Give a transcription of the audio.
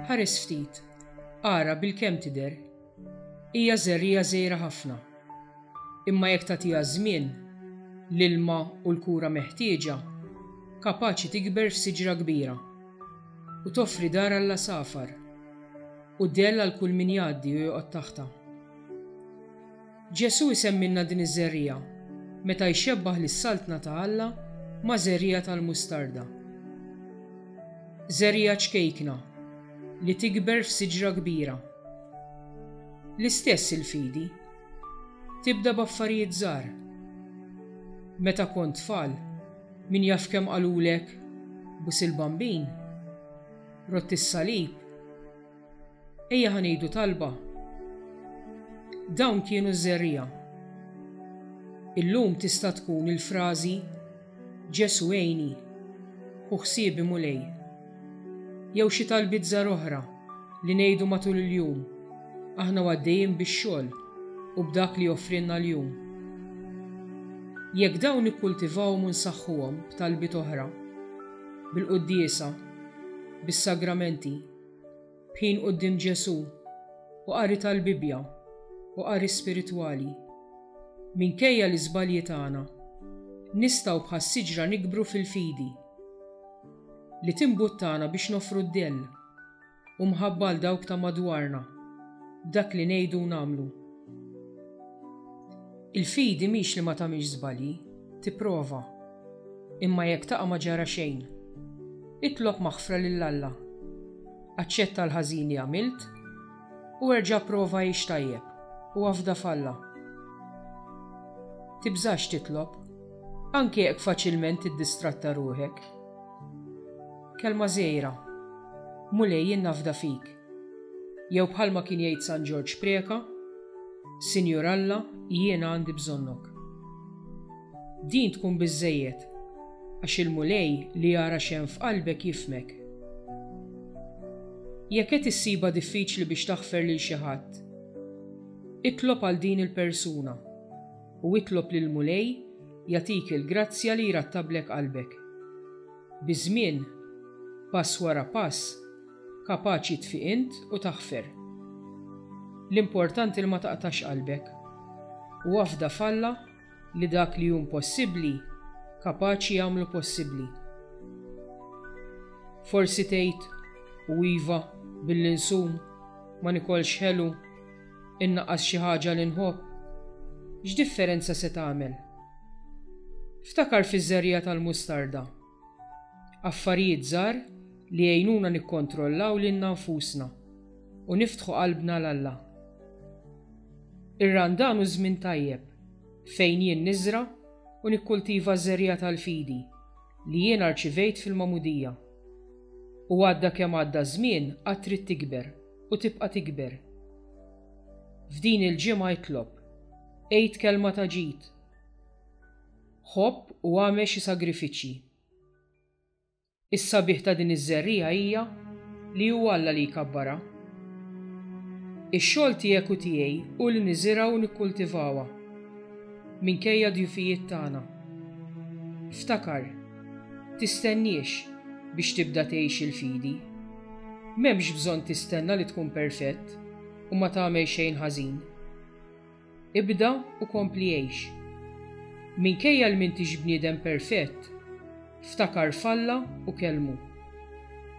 Ħares ftit, ara bil-kemm tidher. Hija żerriegħa żgħira ħafna. Imma jekk tagħtiha ż-żmien, l-ilma u l-kura meħtieġa, kapaċi tikber f'siġra kbira u toffri dar għall-għasafar. U dell għal kull min jgħaddi u joqgħod taħtha. Ġesù jsemmilna din iż-żerriegħa meta jxebbah lis-Saltna ta' Alla ma' żerriegħa tal-mustarda. Żerriegħa ċkejkna li tikber f'siġra kbira. L-istess il-fidi. Tibda b'affarijiet żgħar. Meta kont tfal, min jaf kemm qalulek, Bus il-Bambin? Rott is-salib. Ejja ħa ngħidu talba. Dawn kienu ż-żerriegħa. Illum tista' tkun il-frażi Ġesu għejni, ħu ħsiebi Mulej. Jew xi talbiet żgħar oħra li ngħidu matul il-jum aħna u għaddejjin bix-xogħol u b'dak li joffrilna l-jum. Jekk dawn nikkultivahom u nsaħħuhom b'talbiet oħra, bil-quddiesa, bis-sagramenti, b'ħin quddiem Ġesù u qari tal-Bibbja u qari spiritwali. Minkejja l-iżbalji tagħna, nistgħu bħas-siġra nikbru fil-fidi, li timbuttana biex noffru d-dell. u mħabba għal dawk ta' madwarna b'dak li ngħidu u nagħmlu. Il-fidi mhix li ma tagħmilx żbalji, tipprova, imma jekk taqa' ma ġara xejn. Itlob maħfra lil Alla. Aċċetta l-ħażin li għamilt u erġa' prova għix tajjeb u afda f'Alla. Tibżax titlob, anke jekk faċilment tiddistratta ruħek. Kelma żgħira, Mulej jien nafda fik. Jew bħalma kien jgħid San Ġorġ Preca, Sinjur Alla, jiena għandi bżonnok. Din tkun biżżejjed għax il-Mulej li jara x'hemm f'qalbek jifhmek. Jekk qed issibha diffiċli biex taħfer lil xi ħadd, itlob għal din il-persuna. u itlob lill-Mulej jagħtik il-grazzja li jrattablek qalbek. Biż-żmien, pass wara pass, kapaċi tfiq int u taħfer. L-importanti li ma taqtax qalbek, u afda f'Alla li dak li hu impossibbli kapaċi jagħmlu possibbli. Forsi tgħid, u iva, billi nsum, ma nikolx ħelu, Innaqqas xi ħaġa li nħobb, x'differenza se tagħmel? Ftakar fiż-żerriegħa tal-mustarda. Affarijiet żgħar li jgħinuna nikkontrollaw lilna nfusna u niftħu qalbna 'l Alla. Ir-Randan hu żmien tajjeb fejn jien niżra' u nikkultiva ż-żerriegħa tal-fidi li jiena rċivejt fil-magħmudija. U għadda kemm għadda ż-żmien għad trid tikber. u tibqa' tikber. F'din il-ġimgħa itlob, għid kelma ta' ġid, ħobb u agħmel xi sagrifiċċji. Is-sabiħ ta' din iż-żerriegħa hija li hu Alla li jkabbarha. Ix-xogħol tiegħek u tiegħi hu li niżirgħu u nikkultivawha, minkejja d-djufijiet tagħna. Ftakar! Tistenniex biex tibda tgħix il-fidi. M'hemmx bżonn tistenna li tkun perfett u ma tagħmel xejn ħażin. Ibda u kompli għix. Minkejja li m'intix bniedem perfett, ftakar f'Alla u kellmu.